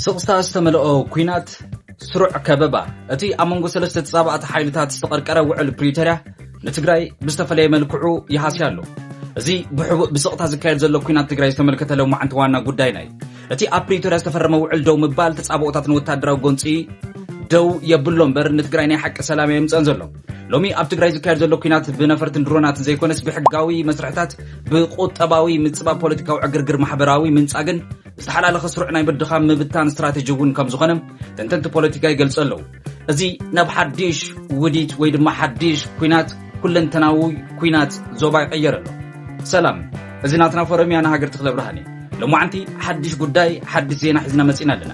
ስቕታ ዝተመልኦ ኲናት ስሩዕ ከበባ እቲ ኣብ መንጎ ሰለስተ ተጻባእቲ ሓይልታት ዝተቐርቀረ ውዕል ፕሪቶርያ ንትግራይ ብዝተፈለየ መልክዑ ይሃስያ ኣሎ እዚ ብሕቡእ ብስቕታ ዝካየድ ዘሎ ኩናት ትግራይ ዝተመልከተ ሎማዕንቲ ዋና ጉዳይና እዩ እቲ ኣብ ፕሪቶርያ ዝተፈረመ ውዕል ደው ምባል ተፃብኦታት ንወታደራዊ ጎንፂ ደው የብሎ እምበር ንትግራይ ናይ ሓቂ ሰላም እየ ምፀን ዘሎ ሎሚ ኣብ ትግራይ ዝካየድ ዘሎ ኩናት ብነፈርትን ድሮናትን ዘይኮነስ ብሕጋዊ መስርሕታት ብቁጠባዊ ምፅባብ ፖለቲካዊ ዕግርግር ማሕበራዊ ምንፃግን ዝተሓላለኸ ስሩዕ ናይ ምድኻም ምብታን ስትራቴጂ እውን ከም ዝኾነ ተንተንቲ ፖለቲካ ይገልጹ ኣለዉ እዚ ናብ ሓድሽ ውዲት ወይ ድማ ሓድሽ ኩናት ኩለንተናዊ ኩናት ዞባ ይቐየር ኣሎ ሰላም እዚ ናትና ፎረም እያ ንሃገር ትክለ ብርሃን እዩ ሎማዓንቲ ሓድሽ ጉዳይ ሓድሽ ዜና ሒዝና መፂና ኣለና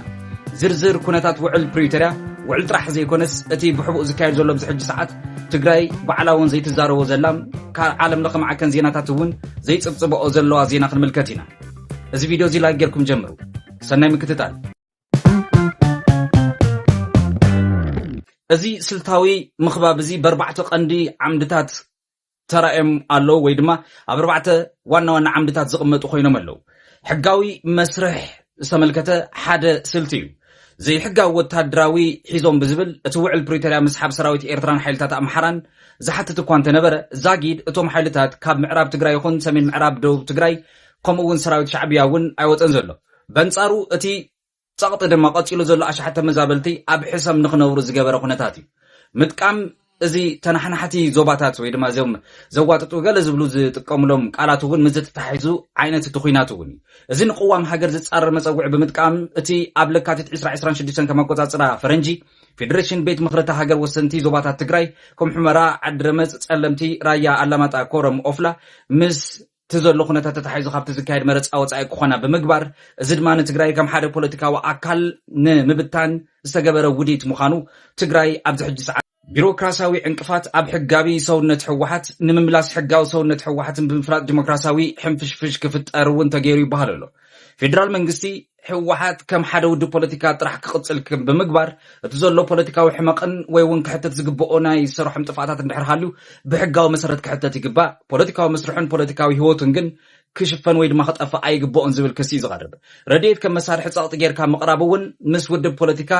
ዝርዝር ኩነታት ውዕል ፕሪቶርያ ውዕል ጥራሕ ዘይኮነስ እቲ ብሕቡእ ዝካየድ ዘሎ ብዝሕጂ ሰዓት ትግራይ ባዕላ እውን ዘይትዛረቦ ዘላ ካብ ዓለም ለኸ ማዕከን ዜናታት እውን ዘይፅብፅበኦ ዘለዋ ዜና ክንምልከት ኢና እዚ ቪድዮ እዚ ላይክ ጌርኩም ጀምሩ። ሰናይ ምክትታል። እዚ ስልታዊ ምኽባብ እዚ በርባዕተ ቀንዲ ዓምድታት ተራእዮም ኣለዉ ወይ ድማ ኣብ ኣርባዕተ ዋና ዋና ዓምድታት ዝቕመጡ ኮይኖም ኣለዉ። ሕጋዊ መስርሕ ዝተመልከተ ሓደ ስልቲ እዩ። ዘይሕጋዊ ወታደራዊ ሒዞም ብዝብል እቲ ውዕል ፕሪቶርያ ምስሓብ ሰራዊት ኤርትራን ሓይልታት ኣምሓራን ዝሓትት እኳ እንተነበረ ዛጊድ እቶም ሓይልታት ካብ ምዕራብ ትግራይ ይኹን ሰሜን ምዕራብ ደቡብ ትግራይ ከምኡ እውን ሰራዊት ሻዕብያ እውን ኣይወፀን ዘሎ። በንፃሩ እቲ ፀቕጢ ድማ ቀፂሉ ዘሎ ኣሽሓት ተመዛበልቲ ኣብ ሕሰም ንክነብሩ ዝገበረ ኩነታት እዩ። ምጥቃም እዚ ተናሓናሕቲ ዞባታት ወይ ድማ እዚም ዘዋጥጡ ገለ ዝብሉ ዝጥቀምሎም ቃላት እውን ምዚ ተታሒዙ ዓይነት እቲ ኩናት እውን እዩ። እዚ ንቅዋም ሃገር ዝፃረር መፀውዒ ብምጥቃም እቲ ኣብ ለካቲት ዕስራ ዕስራን ሽዱሽተን ከም ኣቆፃፅራ ፈረንጂ ፌደሬሽን ቤት ምኽሪ እታ ሃገር ወሰንቲ ዞባታት ትግራይ ከም ሑመራ፣ ዓዲ ረመፅ፣ ፀለምቲ፣ ራያ ኣላማጣ፣ ኮረም፣ ኦፍላ ምስ እቲ ዘሎ ኩነታት ተታሒዙ ካብቲ ዝካየድ መረፃ ወፃኢ ክኾና ብምግባር እዚ ድማ ንትግራይ ከም ሓደ ፖለቲካዊ ኣካል ንምብታን ዝተገበረ ውዲት ምዃኑ ትግራይ ኣብዚ ሕጂ ሰዓት ቢሮክራሲያዊ ዕንቅፋት ኣብ ሕጋቢ ሰውነት ህወሓት ንምምላስ ሕጋዊ ሰውነት ህወሓትን ብምፍራጥ ዲሞክራሲያዊ ሕንፍሽፍሽ ክፍጠር እውን ተገይሩ ይበሃል ኣሎ። ፌዴራል መንግስቲ ህወሓት ከም ሓደ ውድብ ፖለቲካ ጥራሕ ክቕፅል ብምግባር እቲ ዘሎ ፖለቲካዊ ሕመቕን ወይ እውን ክሕተት ዝግብኦ ናይ ሰረሖም ጥፍኣታት እንድሕር ሃልዩ ብሕጋዊ መሰረት ክሕተት ይግባእ፣ ፖለቲካዊ መስርሑን ፖለቲካዊ ህይወቱን ግን ክሽፈን ወይ ድማ ክጠፍእ ኣይግብኦን ዝብል ክሲ እዩ ዝቐርብ። ረድኤት ከም መሳርሒ ፀቕጢ ጌርካ ምቕራብ እውን ምስ ውድብ ፖለቲካ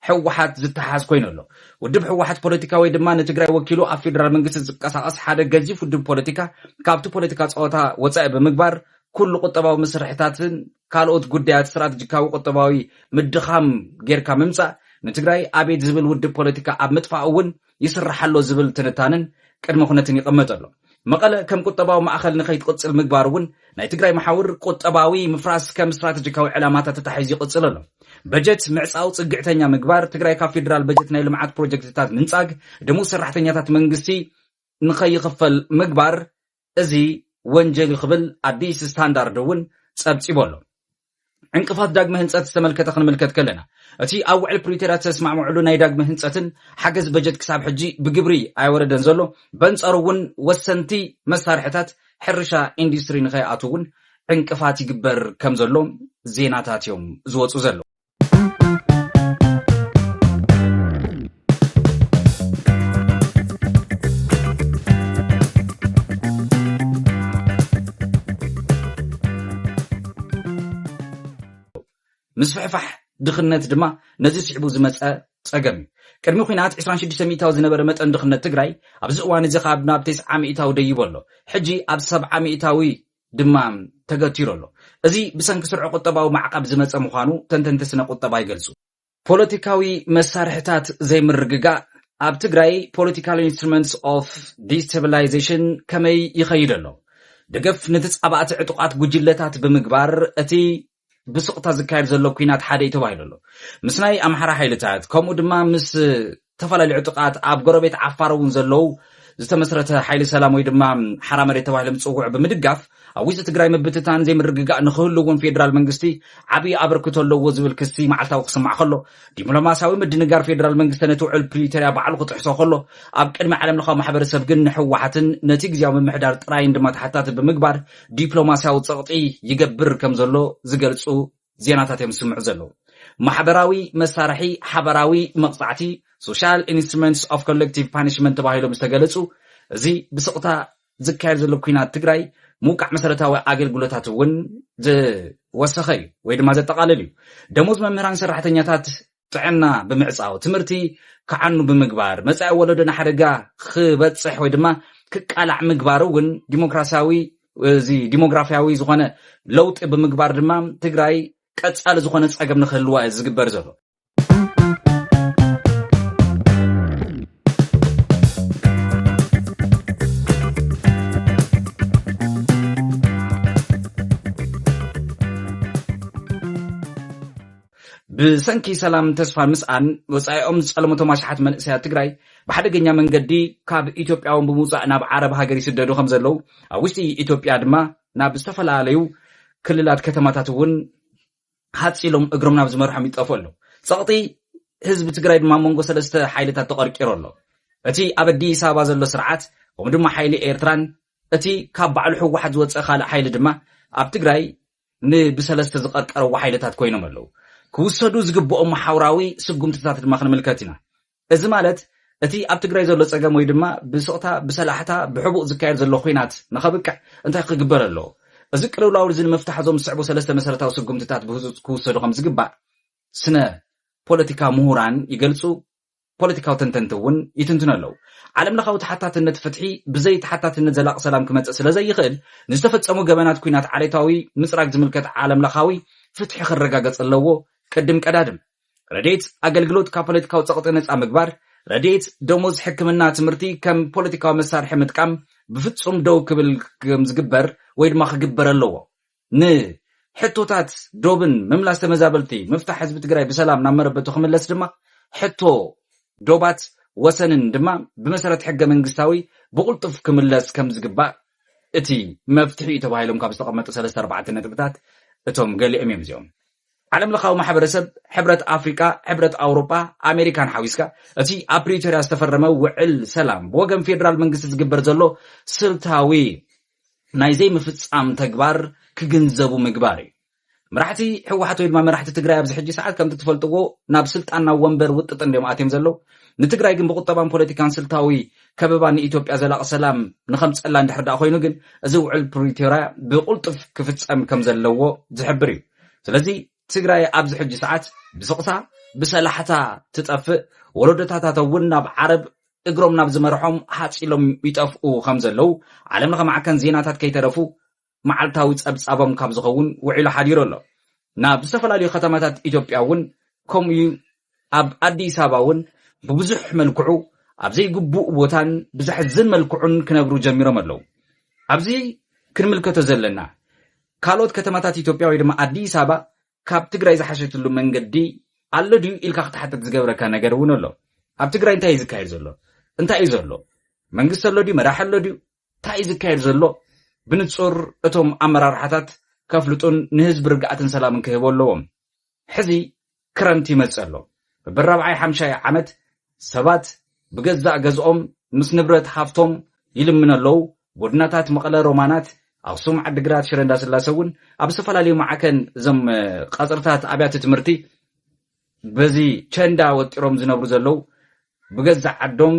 ህወሓት ዝተሓሓዝ ኮይኑ ኣሎ። ውድብ ህወሓት ፖለቲካ ወይ ድማ ንትግራይ ወኪሉ ኣብ ፌዴራል መንግስቲ ዝንቀሳቐስ ሓደ ገዚፍ ውድብ ፖለቲካ ካብቲ ፖለቲካ ፀወታ ወፃኢ ብምግባር ኩሉ ቁጠባዊ መሰርሕታትን ካልኦት ጉዳያት ስትራተጂካዊ ቁጠባዊ ምድኻም ጌርካ ምምፃእ ንትግራይ ኣቤት ዝብል ውድብ ፖለቲካ ኣብ ምጥፋእ እውን ይስራሕ ኣሎ ዝብል ትንታነን ቅድመ ኩነትን ይቐመጥ ኣሎ። መቐለ ከም ቁጠባዊ ማእኸል ንከይትቕፅል ምግባር እውን ናይ ትግራይ መሓውር ቁጠባዊ ምፍራስ ከም ስትራተጂካዊ ዕላማታት ተታሒዙ ይቕፅል ኣሎ። በጀት ምዕፃው ፅግዕተኛ ምግባር ትግራይ ካብ ፌዴራል በጀት ናይ ልምዓት ፕሮጀክትታት ምንፃግ ደሞዝ ሰራሕተኛታት መንግስቲ ንከይኽፈል ምግባር እዚ ወንጀል'ዩ ክብል ኣዲስ ስታንዳርድ'ውን ጸብጺቡ ኣሎ። ዕንቅፋት ዳግመ ህንጸት ዝተመልከተ ክንምልከት ከለና፣ እቲ ኣብ ውዕል ፕሪቶርያ ዝተስማዕምዕሉ ናይ ዳግመ ህንጸትን ሓገዝ በጀት ክሳብ ሕጂ ብግብሪ ኣይወረደን ዘሎ፣ በንጻሩ'ውን ወሰንቲ መሳርሒታት ሕርሻ ኢንዱስትሪ ንኸይኣትው'ውን ዕንቅፋት ይግበር ከምዘሎ ዜናታት'ዮም ዝወጹ ዘለዉ። ምስፍሕፋሕ ድኽነት ድማ ነዚ ስዕቡ ዝመፀ ፀገም እዩ። ቅድሚ ኩናት 26 ሚእታዊ ዝነበረ መጠን ድኽነት ትግራይ ኣብዚ እዋን እዚ ካብ ናብ 90 ሚእታዊ ደይቡ ኣሎ። ሕጂ ኣብ 70 ሚእታዊ ድማ ተገቲሩ ኣሎ። እዚ ብሰንኪ ስርዑ ቁጠባዊ ማዕቐብ ዝመፀ ምዃኑ ተንተንቲ ስነ ቁጠባ ይገልፁ። ፖለቲካዊ መሳርሕታት ዘይምርግጋእ ኣብ ትግራይ ፖለቲካል ኢንስትሩመንትስ ኦፍ ዲስተብላይዜሽን ከመይ ይኸይድ ኣሎ? ደገፍ ንተፃባእቲ ዕጡቓት ጉጅለታት ብምግባር እቲ ብስቕታ ዝካየድ ዘሎ ኩናት ሓደ እዩ ተባሂሉ ኣሎ። ምስ ናይ ኣምሓራ ሓይልታት ከምኡ ድማ ምስ ዝተፈላለዩ ዕጡቓት ኣብ ጎረቤት ዓፋር እውን ዘለዉ ዝተመስረተ ሓይሊ ሰላም ወይ ድማ ሓራ መሬት ተባሂሎም ዝፅውዑ ብምድጋፍ ኣብ ውሽጢ ትግራይ ምብትታን ዘይምርግጋእ ንክህሉ እውን ፌዴራል መንግስቲ ዓብዪ ኣበርክቶ ኣለዎ ዝብል ክሲ መዓልታዊ ክስማዕ ከሎ ዲፕሎማሲያዊ ምድንጋር ፌዴራል መንግስቲ ነቲ ውዕል ፕሪቶሪያ ባዕሉ ክጥሕሶ ከሎ ኣብ ቅድሚ ዓለም ለኻዊ ማሕበረሰብ ግን ንሕወሓትን ነቲ ግዜያዊ ምምሕዳር ጥራይን ድማ ተሓታቲ ብምግባር ዲፕሎማስያዊ ጸቕጢ ይገብር ከም ዘሎ ዝገልጹ ዜናታት እዮም ዝስምዑ ዘለዉ። ማሕበራዊ መሳርሒ ሓባራዊ መቕጻዕቲ፣ Social Instruments of Collective Punishment፣ ተባሂሎም ዝተገለጹ እዚ ብስቕታ ዝካየድ ዘሎ ኲናት ትግራይ ምውቃዕ መሰረታዊ ኣገልግሎታት እውን ዝወሰኸ እዩ ወይ ድማ ዘጠቓልል እዩ። ደሞዝ መምህራን ሰራሕተኛታት ጥዕና ብምዕፃው፣ ትምህርቲ ክዓኑ ብምግባር፣ መፃኢ ወለዶ ንሓደጋ ክበፅሕ ወይ ድማ ክቃላዕ ምግባር እውን ዲሞክራሲያዊ እዚ ዲሞግራፊያዊ ዝኾነ ለውጢ ብምግባር ድማ ትግራይ ቀፃሊ ዝኾነ ፀገም ንክህልዋ እዩ ዝግበር ዘሎ ብሰንኪ ሰላም ተስፋ ምስኣን ወፃኢኦም ዝፀለሙቶም ኣሽሓት መንእሰያት ትግራይ ብሓደገኛ መንገዲ ካብ ኢትዮጵያውን ብምውፃእ ናብ ዓረብ ሃገር ይስደዱ ከምዘለው ኣብ ውሽጢ ኢትዮጵያ ድማ ናብ ዝተፈላለዩ ክልላት ከተማታት እውን ሃፅ ኢሎም እግሮም ናብ ዝመርሖም ይጠፍኡ ኣለው። ፀቕጢ ህዝቢ ትግራይ ድማ መንጎ ሰለስተ ሓይልታት ተቐርቂሮ ኣሎ። እቲ ኣብ ኣዲስ ኣበባ ዘሎ ስርዓት ከምኡ ድማ ሓይሊ ኤርትራን እቲ ካብ ባዕሉ ህወሓት ዝወፀ ካልእ ሓይሊ ድማ ኣብ ትግራይ ንብሰለስተ ዝቐርቀረዎ ሓይልታት ኮይኖም ኣለዉ። ክውሰዱ ዝግብኦም መሓውራዊ ስጉምትታት ድማ ክንምልከት ኢና። እዚ ማለት እቲ ኣብ ትግራይ ዘሎ ጸገም ወይ ድማ ብስቕታ፣ ብሰላሕታ፣ ብሕቡእ ዝካየድ ዘሎ ኩናት ንኸብቅዕ እንታይ ክግበር ኣለዎ? እዚ ቅልውላው እዚ ንምፍታሕ እዞም ዝስዕቡ ሰለስተ መሰረታዊ ስጉምትታት ብህጹጽ ክውሰዱ ከምዝግባእ ስነ ፖለቲካ ምሁራን ይገልጹ ፖለቲካዊ ተንተንቲ እውን ይትንትኑ ኣለዉ። ዓለምለኻዊ ተሓታትነት ፍትሒ ብዘይ ተሓታትነት ዘላቒ ሰላም ክመጽእ ስለዘይኽእል፣ ንዝተፈጸሙ ገበናት ኲናት ዓሌታዊ ምጽራግ ዝምልከት ዓለምለኻዊ ፍትሒ ክረጋገጽ ኣለዎ፣ ቅድም ቀዳድም። ረድኤት ኣገልግሎት ካብ ፖለቲካዊ ጸቕጢ ነጻ ምግባር፣ ረድኤት፣ ደሞዝ፣ ሕክምና፣ ትምህርቲ ከም ፖለቲካዊ መሳርሒ ምጥቃም ብፍጹም ደው ክብል ከምዝግበር ወይ ድማ ክግበር ኣለዎ። ንሕቶታት ዶብን ምምላስ ተመዛበልቲ ምፍታሕ ህዝቢ ትግራይ ብሰላም ናብ መረበቱ ክምለስ ድማ ሕቶ ዶባት ወሰንን ድማ ብመሰረት ሕገ መንግስታዊ ብቕልጡፍ ክምለስ ከም ዝግባእ እቲ መፍትሒ እዩ ተባሂሎም ካብ ዝተቐመጡ ሰለስተ ኣርባዕተ ነጥብታት እቶም ገሊኦም እዮም እዚኦም ዓለም ለኻዊ ማሕበረሰብ ሕብረት ኣፍሪቃ ሕብረት ኣውሮጳ ኣሜሪካን ሓዊስካ እቲ ኣብ ፕሪቶርያ ዝተፈረመ ውዕል ሰላም ብወገን ፌዴራል መንግስቲ ዝግበር ዘሎ ስልታዊ ናይ ዘይምፍፃም ተግባር ክግንዘቡ ምግባር እዩ። መራሕቲ ሕወሓት ወይ ድማ መራሕቲ ትግራይ ኣብዚ ሕጂ ሰዓት ከምቲ ትፈልጥዎ ናብ ስልጣን ናብ ወንበር ውጥጥ እንዲዮም ኣትዮም ዘለዉ ንትግራይ ግን ብቁጠባን ፖለቲካን ስልታዊ ከበባ ንኢትዮጵያ ዘላቂ ሰላም ንከምፀላ እንድሕር ዳኣ ኮይኑ ግን እዚ ውዕል ፕሪቶርያ ብቁልጡፍ ክፍፀም ከም ዘለዎ ዝሕብር እዩ ስለዚ ትግራይ ኣብዚ ሕጂ ሰዓት ብስቕታ ብሰላሕታ ትጠፍእ፣ ወለዶታታታ እውን ናብ ዓረብ እግሮም ናብ ዝመርሖም ሃጽ ኢሎም ይጠፍኡ ከም ዘለዉ ዓለም ለኸ ማዕከን ዜናታት ከይተረፉ መዓልታዊ ጸብጻቦም ካብ ዝኸውን ውዒሉ ሓዲሩ ኣሎ። ናብ ዝተፈላለዩ ከተማታት ኢትዮጵያ እውን ከምኡ እዩ፣ ኣብ ኣዲስ ኣበባ እውን ብብዙሕ መልክዑ ኣብ ዘይግቡእ ቦታን ብዘሕዝን መልክዑን ክነብሩ ጀሚሮም ኣለዉ። ኣብዚ ክንምልከቶ ዘለና ካልኦት ከተማታት ኢትዮጵያ ወይ ድማ ኣዲስ ኣበባ ካብ ትግራይ ዝሓሸትሉ መንገዲ ኣሎ ድዩ ኢልካ ክትሓትት ዝገብረካ ነገር እውን ኣሎ። ኣብ ትግራይ እንታይ እዩ ዝካየድ ዘሎ? እንታይ እዩ ዘሎ? መንግስቲ ኣሎ ድዩ? መራሒ ኣሎ ድዩ? እንታይ እዩ ዝካየድ ዘሎ? ብንጹር እቶም ኣመራርሓታት ከፍልጡን ንህዝቢ ርግኣትን ሰላምን ክህቡ ኣለዎም። ሕዚ ክረምቲ ይመጽእ ኣሎ። በብራብዓይ ሓምሻይ ዓመት ሰባት ብገዛእ ገዝኦም ምስ ንብረት ሃፍቶም ይልምኑ ኣለው። ጎድናታት መቐለ ሮማናት፣ ኣኽሱም፣ ዓዲግራት፣ ሽረ እንዳስላሰ እውን ኣብ ዝተፈላለዩ መዓከን እዞም ቐጽርታት ኣብያተ ትምህርቲ በዚ ቸንዳ ወጢሮም ዝነብሩ ዘለው ብገዛእ ዓዶም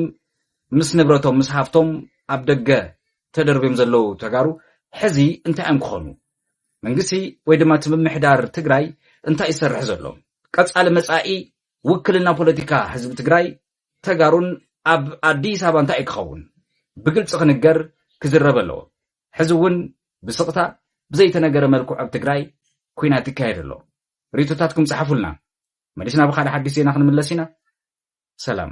ምስ ንብረቶም ምስ ሃፍቶም ኣብ ደገ ተደርብዮም ዘለው ተጋሩ ሕዚ እንታይ እዮም ክኾኑ? መንግስቲ ወይ ድማ እቲ ምምሕዳር ትግራይ እንታይ ይሰርሕ ዘሎ? ቀፃሊ መፃኢ ውክልና ፖለቲካ ህዝቢ ትግራይ ተጋሩን ኣብ ኣዲስ ኣበባ እንታይ እዩ ክኸውን? ብግልፂ ክንገር ክዝረብ ኣለዎ። ሕዚ እውን ብስቕታ ብዘይተነገረ መልክዑ ኣብ ትግራይ ኩናት ይካየድ ኣሎ። ሪቶታትኩም ፀሓፉልና። መሊስና ብካልእ ሓዲሽ ዜና ክንምለስ ኢና። ሰላም።